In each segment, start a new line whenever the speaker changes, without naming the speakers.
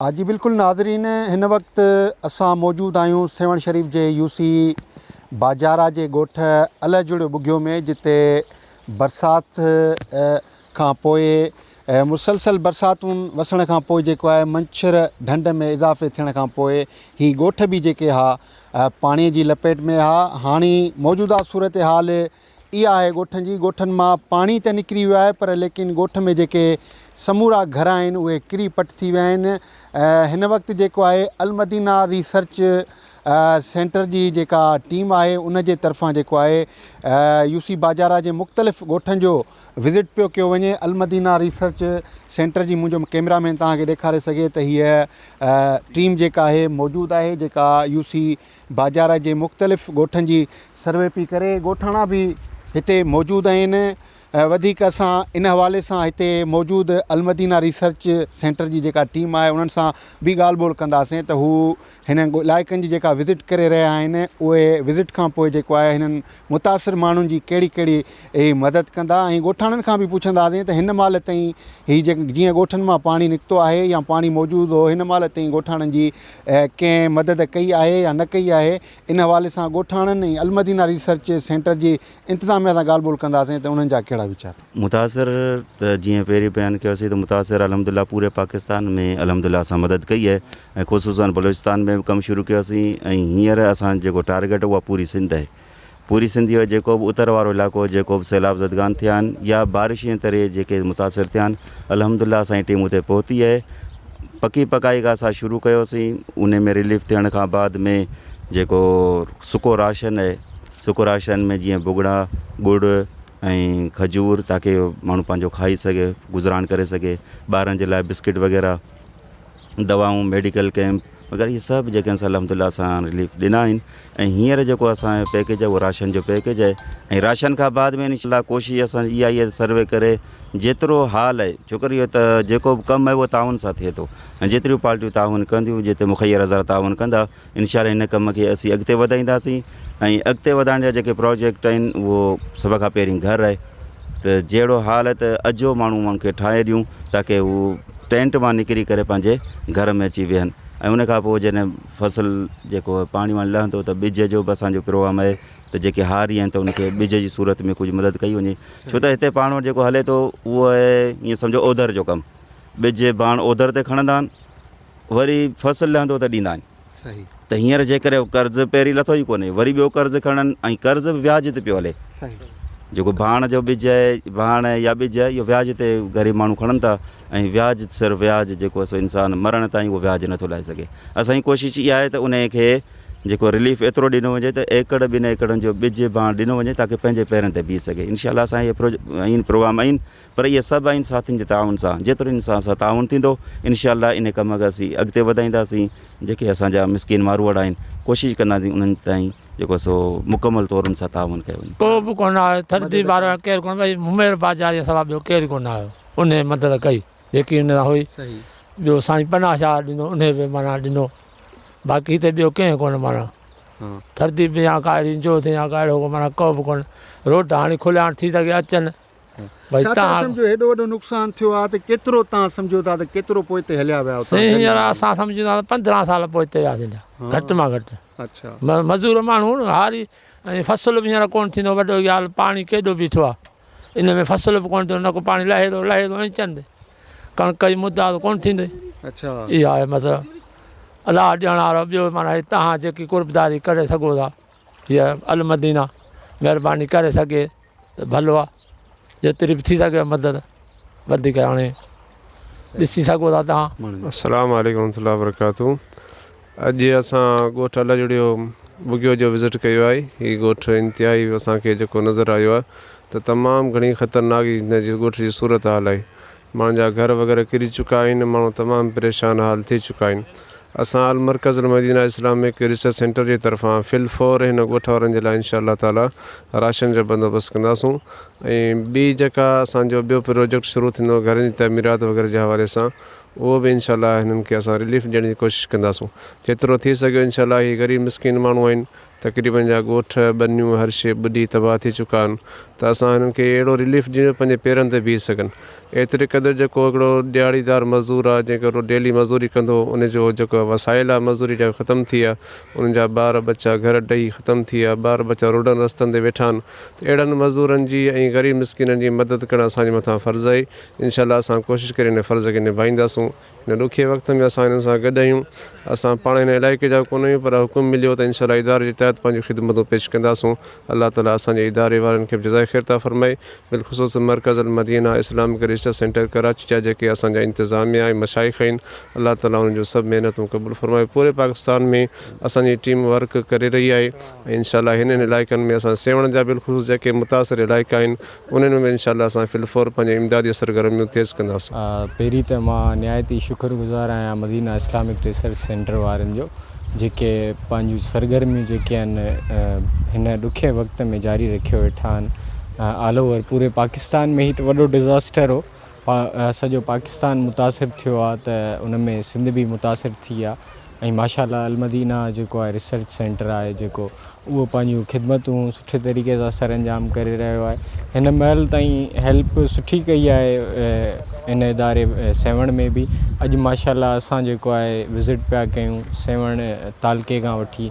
ها جي بلڪل ناظرين هن وقت اسان موجود آهيون سيوهڻ شريف جي يو سي باجارا جي ڳوٺ اله جڙيو ٻگهيو ۾ جتي برسات کان پوء مسلسل برساتون وسڻ کان پوء جيڪو آهي منڇر ڍنڍ ۾ اضافي ٿيڻ کان پوء هي ڳوٺ به جيڪي ها پاڻي جي لپيٽ ۾ ها هاڻي موجوده صورتحال اها آهي ڳوٺن جي ڳوٺن مان پاڻي ته نڪري ويو آهي پر ليڪن ڳوٺ ۾ جيڪي سمورا گهر آهن اهي ڪري پٽ ٿي ويا آهن هن وقت جيڪو آهي المدينه ريسرچ سينٽر جي جيڪا ٽيم آهي ان جي طرفان جيڪو آهي يو سي باجارا جي مختلف ڳوٺن جو وزٽ پيو ڪيو وڃي المدينه ريسرچ سينٽر جي منهنجو ڪيمرا مين توهان کي ڏيکاري سگهي ته هيء ٽيم جيڪا آهي موجود آهي جيڪا يو سي باجارا جي مختلف ڳوٺن جي سروي پئي ڪري ڳوٺاڻا به هتي موجود آهن وڌيڪ اسان ان حوالي سان هتي موجود المدينا ريسرچ سينٽر جي جيڪا ٽيم آهي انهن سان به ڳالهه ٻولهه ڪنداسين ته هو هنن علائقن جي جيڪا وزٽ ڪري رهيا آهن اهي وزٽ کان پوء جيڪو آهي هنن متاثر ماڻهن جي ڪهڙي ڪهڙي اهي مدد ڪندا ۽ ڳوٺاڻن کان به پڇنداسين ته هن مهل تائين هي جيئن ڳوٺن مان پاڻي نڪتو آهي يا پاڻي موجود هو هن مهل تائين ڳوٺاڻن جي ڪنهن مدد ڪئي آهي يا نه ڪئي آهي ان حوالي سان ڳوٺاڻن ۽ المدينه ريسرچ سينٽر جي انتظاميه سان ڳالهه ٻولهه ڪنداسين ته انهن جا ڪهڙا ويچار متاثر
ته جيئن پهرين بيان ڪيوسين ته متاثر الحمد لله پوري پاڪستان ۾ الحمد لله اسان مدد ڪئي آهي ۽ خصوصن بلوچستان ۾ به ڪم شروع ڪيوسين ۽ هينئر اسان جيڪو ٽارگيٽ اها پوري سنڌ آهي پوري سنڌ جو جيڪو به اتر وارو علائقو جيڪو به سيلاب زدگان ٿيا آهن يا بارش جي تري جيڪي متاثر ٿيا آهن الحمد لله اسان جي ٽيم اتي پهتي آهي پڪي پڪائي کان اسان شروع ڪيوسين ان ۾ رليف ٿيڻ کان بعد ۾ جيڪو سڪو راشن آهي سڪو راشن ۾ جيئن ڀڳڙا ڳڙ ۽ کجور تاڪي ماڻهو پنهنجو کائي سگهي گذران ڪري سگهي ٻارن جي لاء بسڪيٽ وغيره دواؤن ميڊيڪل ڪيمپ وغيره هي سڀ جيڪي آهن الحمد لله اسان هاڻ رليف ڏنا آهن ۽ هينئر جيڪو اسان پيڪيج آهي راشن جو پيڪيج آهي ۽ راشن کان بعد ۾ انشاء الله ڪوشش اسان جي اها آهي سروي ڪري جيترو حال آهي ڇو ڪري اهو ته جيڪو به ڪم آهي اهو تعاون سان ٿئي ٿو ۽ جيتريون پارٽيون تعاون ڪنديون جيترو مخير هزار تعاون ڪندا انشاء الله ان ڪم کي اسين اڳتي وڌائينداسين ۽ اڳتي وڌائڻ جا جيڪي پراجيڪٽ آهن اهو سڀ کان پهرين گهر آهي ته جهڙو حال آهي ته اجهو ماڻهو ان کي ٺاهي ڏيون تاڪي هو ٽينٽ مان نڪري ڪري پنهنجي گهر ۾ اچي ويهن ۽ ان کان پوء جڏهن فصل جيڪو پاڻي واڻي لهندو ته ٻج جو به اسانجو پروگرام آهي ته جيڪي هاري آهن ته ان کي ٻج جي صورت ۾ ڪجهه مدد ڪئي وڃي ڇو ته هتي پاڻ وٽ جيڪو هلي ٿو اهو آهي ائين سمجهو اوڌر جو ڪم ٻج ڀاڻ اوڌر تي کڻندا آهن وري فصل لهندو ته ڏيندا آهن ته هينئر جيڪڏهن هو قرض پهرين لٿو ئي ڪونهي وري ٻيو قرض کڻن ۽ قرض به وياج تي پيو هلي جيڪو ڀاڻ جو ٻج آهي ڀاڻ يا ٻج آهي اهو وياج تي غريب ماڻهو کڻن ٿا ۽ وياج سر وياج جيڪو سو انسان مرڻ تائين اهو وياج نٿو لاهي سگهي اسان جي ڪوشش اها آهي ته ان کي جيڪو رليف ايترو ڏنو وڃي ته ايڪڙ ٻن ايڪڙن جو ٻج ڀاڻ ڏنو وڃي تاڪي پنهنجي پيرن تي بيهي سگهي انشاء الله اسان اهي پروگرام آهن پر اهي سڀ آئين ساٿين جي تعاون سان جيترو انسان سان تعاون ٿيندو انشاء الله انهي ڪم کي اسين اڳتي وڌائينداسين جيڪي اسان جا مسڪين ماروئڙا آهن ڪوشش ڪنداسين انهن تائين جيڪو سو مڪمل طور ان سان تعاون ڪيو وڃي. ڪو به ڪونه آيو ٿردي
وارو آيو ڪير ڪونه ڀئي ممير بازاريء سوا ٻيو ڪير ڪونه آيو انهي مدد ڪئي جيڪي ان سان هئي ٻيو سائين پناهه شاهه ڏنو انهي به معنيٰ ڏنو باقي هتي ٻيو ڪنهن ڪونه معنيٰ ٿردي به يا ڪا اهڙي جوت يا ڪا اهڙو معنيٰ ڪو به ڪونه روڊ هاڻي کليا آهن ٿي سگهي اچن ڇا تان
سمجهو هيڏو وڏو نقصان ٿيو آهي ته ڪيترو تان سمجهو ٿا ته ڪيترو پوئتي هليا ويا هئا هينئر اسان سمجهون
ٿا ته پندرهن سال پوئتي وياسين جا گهٽ مان گهٽ اڇا مزور
ماڻهو
هاري ۽ فصل به هينئر ڪون ٿيندو وڏو ڳالهه پاڻي ڪيڏو بيٺو آهي ان ۾ فصل به ڪون ٿيندو نه ڪو پاڻي لهي ٿو لهي ٿو ۽ چند ڪڻڪ جي مدا ته ڪون ٿيندي اڇا اها آهي مطلب الله ڏيڻ وارو ٻيو مانا تان جيڪي قربداري ڪري سگهو ٿا يا المدينه مهرباني ڪري سگهي ته ڀلو آ جيتري به ٿي سگهي مدد وڌيڪ هاڻي ڏسي سگهو ٿا توهان. السلام عليڪم ورحمة الله
وبرڪاته اڄ اسان ڳوٺ الهجڙيو ٻگهيو جو وزٽ ڪيو آهي هي ڳوٺ انتهائي اسان کي جيڪو نظر آيو آهي ته تمام گهڻي خطرناڪ هن جي ڳوٺ جي صورتحال آهي مان جا گهر وغيره ڪري چڪا آهن ماڻهو تمام پريشان حال ٿي چڪا آهن اسان Al-Markaz Al-Madina Islamic research centre جي طرفان في الفور هن ڳوٺ وارن جي لاء انشاء الله تعالي راشن جو بندوبست ڪنداسون ۽ ٻي جيڪا اسان جو ٻيو پروجيڪٽ شروع ٿيندو گهرن جي تعميرات وغيره جي حوالي سان اهو به انشاء الله هنن کي اسان رليف ڏيڻ جي ڪوشش ڪنداسون جيترو ٿي سگهيو انشاء الله هي غريب مسڪين ماڻهو آهن تقريبن جا ڳوٺ، ٻنيون هر شيء ٻڏي تباهه ٿي چڪا آهن ته اسان هنن کي اهڙو رليف ڏيون جو پنهنجي پيرن تي بيهي سگهن. ايتري قدر جيڪو هڪڙو ڏهاڙي دار مزدور آهي جنهن کي هڪڙو ڊيلي مزوري ڪندو ان جو جيڪو وسائل آهي مزوري جا ختم ٿي ويا انهن جا ٻار ٻچا گهر ڊهي ختم ٿي ويا ٻار ٻچا روڊن رستن تي ويٺا آهن ته اهڙن مزورن جي ۽ غريب مسڪينن جي مدد ڪرڻ اسان جي مٿان فرض آهي انشاء الله اسان ڪوشش ڪري ان فرض کي نڀائينداسون. هن ڏکي وقت ۾ اسان هنن سان گڏ آهيون، اسان پاڻ هن علائقي جا ڪونه آهيون پر حڪم مليو ته انشاءالله اداري جي تحت پنهنجون خدمتون پيش ڪنداسون، الله تعالي اسان جي اداري وارن کي به جزائي خير عطا فرمائي، بالخصوص Markaz Al-Madina Islamic research centre Karachi جا جيڪي اسان جا انتظاميه ۽ مشائخ آهن الله تعالي انهن جون سڀ محنتون قبول فرمائي، پوري پاڪستان ۾ اسان جي ٽيم ورڪ ڪري رهي آهي ۽ انشاءالله هنن علائقن ۾ اسان سيوهڻ جا بالخصوص جيڪي متاثر علائقا آهن انهن ۾ به انشاء الله اسان فل فور پنهنجي امدادي سرگرميون تيز ڪنداسون. پهرين ته مان
نهايت ئي شڪر گذار آهيان مدينه اسلامڪ ريسرچ سينٽر وارن جو جيڪي پنهنجون سرگرميون جيڪي آهن هن ڏکئي وقت ۾ جاري رکيو ويٺا آهن آل اوور پوري پاڪستان ۾ هي ته وڏو ڊزاسٽر هو سڄو پاڪستان متاثر ٿيو آ ته ان ۾ سنڌ به متاثر ٿي آ ۽ ماشاء الله المدينه جيڪو آهي ريسرچ سينٽر آهي جيڪو اهو پنهنجون خدمتون سٺي طريقي سان سر انجام ڪري رهيو آهي هن مهل تائين هيلپ سٺي ڪئي آهي ان اداري سيوهڻ ۾ به اڄ ماشاء الله اسان جيڪو آهي وزٽ پيا ڪيون سيوهڻ تعلقي کان وٺي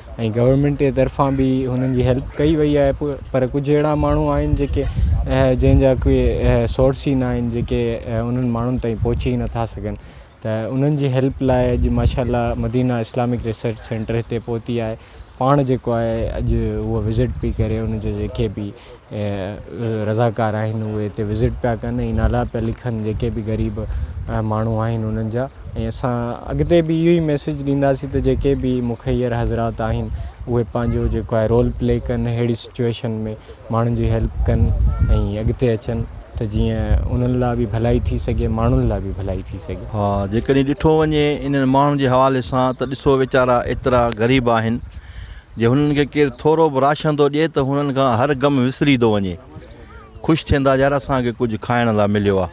۽ گورنمينٽ جي طرفان به هنن جي هيلپ ڪئي وئي آهي پر ڪجهه اهڙا ماڻهو آهن جيڪي جنهن جا ڪي سورس ئي ناهن جيڪي انهن ماڻهن تائين پهچي نه ٿا سگهن ته انهن جي هيلپ لاء اڄ ماشاء الله مدينه اسلامڪ ريسرچ سينٽر هتي پهتي آهي پاڻ جيڪو آهي اڄ هو وزٽ پئي ڪري ان جي جيڪي بي رضاڪار آهن اهي هتي وزٽ پيا ڪن ۽ نالا پيا لکن جيڪي به غريب ماڻهو آهن انهن جا ۽ اسان اڳتي به اهو ئي ميسيج ڏينداسين ته جيڪي به مخير حضرات آهن اهي پنهنجو جيڪو آهي رول پلي ڪن اهڙي سچويشن ۾ ماڻهن جي هيلپ ڪن ۽ اڳتي اچن ته جيئن انهن لاء به ڀلائي ٿي سگهي ماڻهن لاء به ڀلائي ٿي سگهي. ها جيڪڏهن ڏٺو
وڃي انهن ماڻهن جي حوالي سان ته ڏسو ويچارا ايترا غريب آهن جي هنن کي ڪير ٿورو به راشن ٿو ڏئي ته هنن کان هر غم وسري ٿو وڃي خوش ٿين ٿا يار اسان کي ڪجهه کائڻ لاء مليو آ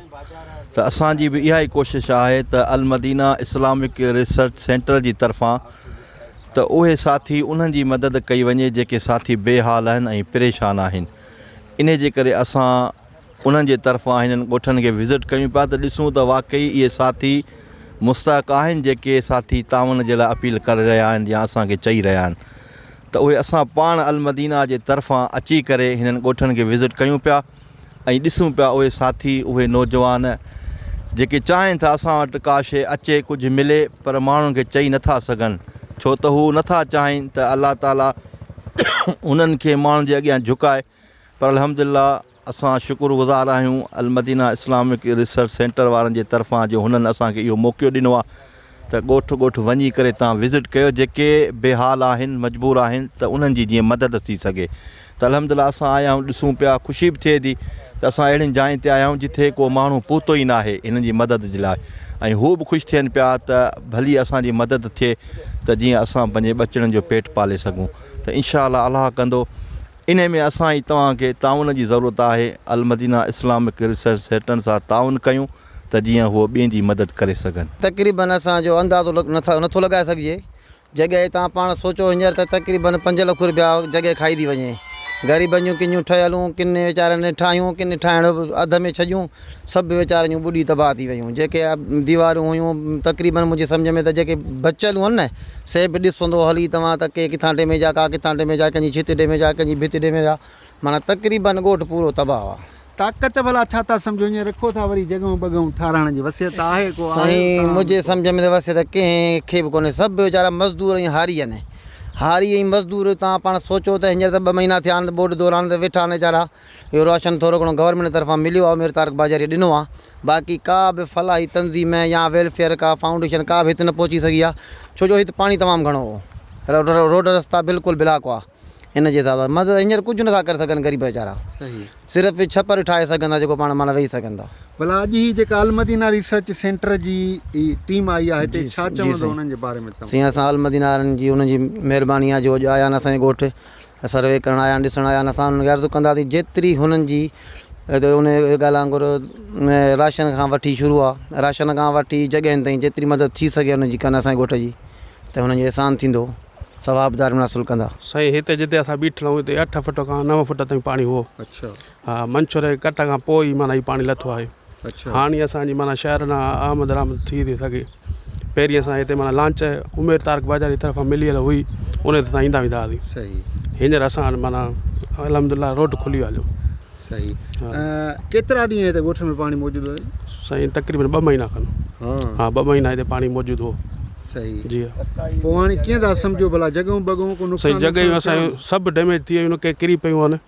ته اسان جي به اها ئي ڪوشش آهي ته المدينه اسلامڪ ريسرچ سينٽر جي طرفان ته اهي ساٿي انهن جي مدد ڪئي وڃي جيڪي ساٿي بي حال آهن ۽ پريشان آهن انهي جي ڪري اسان انهن جي طرفان هنن ڳوٺن کي وزٽ ڪيون پيا ته ڏسون ته واقعي اهي ساٿي مستحق آهن جيڪي ساٿي تعاون جي لاء اپيل ڪري رهيا آهن يا اسان کي چئي رهيا آهن ته اهي اسان پاڻ المدينه جي طرفان اچي ڪري هنن ڳوٺن کي وزٽ ڪيون پيا ۽ ڏسون پيا اهي ساٿي اهي نوجوان جيڪي چاهين ٿا اسان وٽ ڪا شيء اچي ڪجهه ملي پر ماڻهن کي چئي نٿا سگهن ڇو ته هو نٿا چاهين ته الله تعالي هنن کي ماڻهن جي اڳيان جهڪائي پر الحمدلله اسان شڪر گذار آهيون المدينه اسلامڪ ريسرچ سينٽر وارن جي طرفان جو هنن اسان کي اهو موقعو ڏنو آهي ته ڳوٺ ڳوٺ وڃي ڪري تان وزٽ ڪيو جيڪي بي حال آهن مجبور آهن ته انهن جي جيئن مدد ٿي سگهي ته الحمدلله اسان آيا آهيون ڏسون پيا خوشي به ٿئي ٿي ته اسان اهڙين جاين تي آيا آهيون جتي ڪو ماڻهو پهتو ئي ناهي هنن جي مدد جي لاء ۽ هو به خوش ٿين پيا ته ڀلي اسان جي مدد ٿئي ته جيئن اسان پنهنجي ٻچڙن جو پيٽ پالي سگهون ته انشاء الله الله ڪندو انهي ۾ اسان ۽ توهان کي تعاون جي ضرورت آهي، المدينه اسلامڪ ريسرچ سيٽن سان تعاون ڪيون ته جيئن هو ٻين جي مدد ڪري سگهن. تقريبن اسان جو
اندازو نه ٿو لڳائي سگهجي، جڳهي توهان پاڻ سوچو هينئر ته تقريبن پنج لک رپيا جڳهي کائي ٿي وڃي، غريبن جون ڪنيون ٺهيل هون، ڪن ويچارن ٺاهيون ڪن ٺاهڻ اڌ ۾ ڇڏيون، سڀ ويچارن جون ٻڏي تباهه ٿي ويون. جيڪي ديوارون هيون تقريبن منهنجي سمجهه ۾ ته جيڪي بچيل هئن نه سي به ڏس هوندو هلي توهان ته ڪي ڪٿان ڊيميج آ ڪا ڪٿان ڊيميج آ ڪنهن جي ڇت ڊيميج آ ڪنهن جي ڀت ڊيميج آ معنيٰ تقريبن ڳوٺ پورو تباهه آ. طاقت ڀلا ڇا
ٿا سمجهو هينئر رکو ٿا وري جڳهون بڳهون ٺاراهڻ جي وصيت آهي ڪو آهي سائين اتان منهنجي سمجهه
۾ ته وصيت ڪنهن کي به ڪونهي سڀ ويچارا مزدور ۽ هاري آهن هاري ۽ مزدور توهان پاڻ سوچو ته هينئر ته ٻه مهينا ٿيا آهن ٻوڏ دوران ته ويٺا آهن ويچارا اهو راشن ٿورو گهڻو گورنمينٽ طرفان مليو آهي مير طارق باجاريء ڏنو آهي باقي ڪا به فلاحي تنظيم يا ويلفيئر ڪا فائونڊيشن ڪا به هت نه پهچي سگهي آهي ڇو جو هت پاڻي تمام گهڻو هو روڊ رستا بلڪل بلاڪ هئا ان جي حساب سان مدد هينئر ڪجهه نٿا ڪري سگهن غريب ويچارا صرف
ڇپر
ٺاهي سگهن ٿا جيڪو پاڻ معنيٰ ويهي سگهن ٿا. ڀلا اڄ هي جيڪا
المدينه ريسرچ سينٽر جي ٽيم آئي آهي هتي ڇا چوندو انهن جي باري ۾
توهان
سائين اسان المدينه وارن
جي انهن جي مهرباني آهي جو اڄ آيا آهن اسان جي ڳوٺ سروي ڪرڻ آيا آهن ڏسڻ آيا آهن اسان انهن کي عرض ڪنداسين جيتري هنن جي انهي ڳالهه وانگر راشن کان وٺي شروع آهي راشن کان وٺي جڳهين تائين جيتري مدد ٿي سگهي انهن جي ڪن اسان جي ڳوٺ جي ته هنن جو احسان ٿيندو ثواب دار مناسل ڪندا. سائين هتي جتي اسان
بيٺل آهيون هتي اٺ فٽ کان نو فٽ تائين پاڻي هو ها
منڇور جي
ڪٽ کان پوء ئي معنيٰ هي پاڻي لٿو آهي اڇا هاڻي اسان
جي معنيٰ
شهر ڏانهن آمد رامد ٿي ٿي سگهي پهرين اسان هتي معنيٰ لانچ عمير تارڪ بازار جي طرفان مليل هئي ان تي اسان ايندا ويندا هئاسين صحيح هينئر
اسان وٽ
معنيٰ الحمد الله روڊ کلي ويو هليو صحيح
ها. اه، ڪيترا ڏينهن هتي ڳوٺ ۾ پاڻي موجود هو سائين تقريبن ٻه
مهينا کن ها ها ٻه مهينا
هتي پاڻي
موجود هو صحيح جي ها
پوء
هاڻي ڪيئن
ٿا سمجهو ڀلا جڳهيون بڳهيون ڪو سائين نقصان جڳهيون وقصان ٿيا اسان آهن؟ جون
سڀ ڊيميج ٿي ويون ڪي ڪري پيون آهن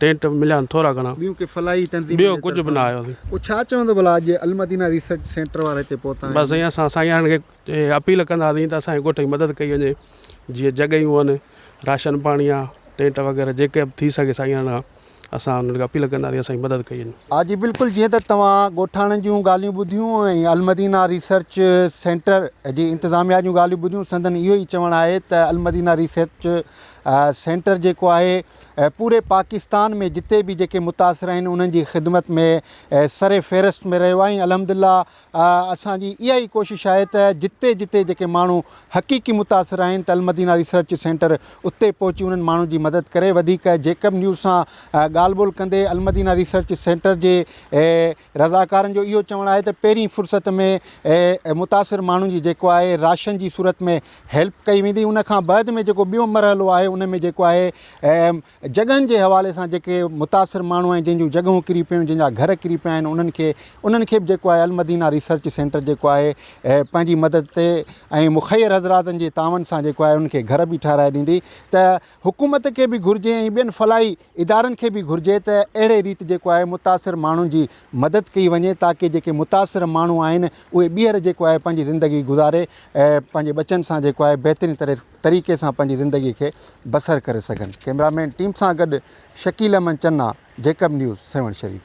ٽينٽ مليا آهن ٿورا گهڻا. ٻيون ڪي فلاحي تنظيمن جي طرفان.
ٻيو ڪجهه به نه آيو سائين.
پوء ڇا چوندو ڀلا
اڄ المدينه ريسرچ سينٽر وارا هتي پهتا آهن. بس سائين اسان سائينن
کي اپيل ڪنداسين ته اسان جي ڳوٺ جي مدد ڪئي وڃي جيئن جڳهيون آهن راشن پاڻي آ ٽينٽ وغيره جيڪي به ٿي سگهي سائينن کان اسان انهن کي اپيل ڪنداسين اسان جي مدد ڪئي وڃي. ها جي بلڪل جيئن ته
توهان ڳوٺاڻن جون ڳالهيون ٻڌيون ۽ المدينه ريسرچ سينٽر جي انتظاميا جون ڳالهيون ٻڌيون سندن اهو ئي چوڻ آهي ته المدينه ريسرچ سينٽر جيڪو آهي ۽ پوري پاڪستان ۾ جتي به جيڪي متاثر آهن انهن جي خدمت ۾ سر فهرست ۾ رهيو آهي ۽ الحمدلله اسان جي اها ئي ڪوشش آهي ته جتي جتي جيڪي ماڻهو حقيقي متاثر آهن ته المدينه ريسرچ سينٽر اتي پهچي انهن ماڻهن جي مدد ڪري وڌيڪ جيڪب نيوز سان ڳالهه ٻولهه ڪندي المدينه ريسرچ سينٽر جي رضاڪارن جو اهو چوڻ آهي ته پهرين فرصت ۾ متاثر ماڻهن جي جيڪو آهي راشن جي صورت ۾ هيلپ ڪئي ويندي ان کان بعد ۾ جيڪو ٻيو مرحلو آهي ان ۾ جيڪو آهي جڳهن جي حوالي سان جيڪي متاثر ماڻهو آهن جن جون جڳهون ڪري پيون جن جا گهر ڪري پيا آهن انهن کي انهن کي به جيڪو آهي المدينا ريسرچ سينٽر جيڪو آهي پنهنجي مدد تي ۽ مخير حضراتن جي تعاون سان جيڪو آهي انهن کي گهر به ٺهرائي ڏيندي ته حڪومت کي به گهرجي ۽ ٻين فلاحي ادارن کي به گهرجي ته اهڙي ريت جيڪو آهي متاثر ماڻهن جي مدد ڪئي وڃي تاڪه جيڪي متاثر ماڻهو آهن اهي ٻيهر جيڪو آهي پنهنجي زندگي گذاري پنهنجي ٻچن سان جيڪو آهي بهترين طريقي سان پنهنجي زندگي کي بسر ڪري سگهن ڪيمرا مين ٽيم سان گڏ شڪيل احمد چنا جيڪب نيوز سيوهڻ شريف.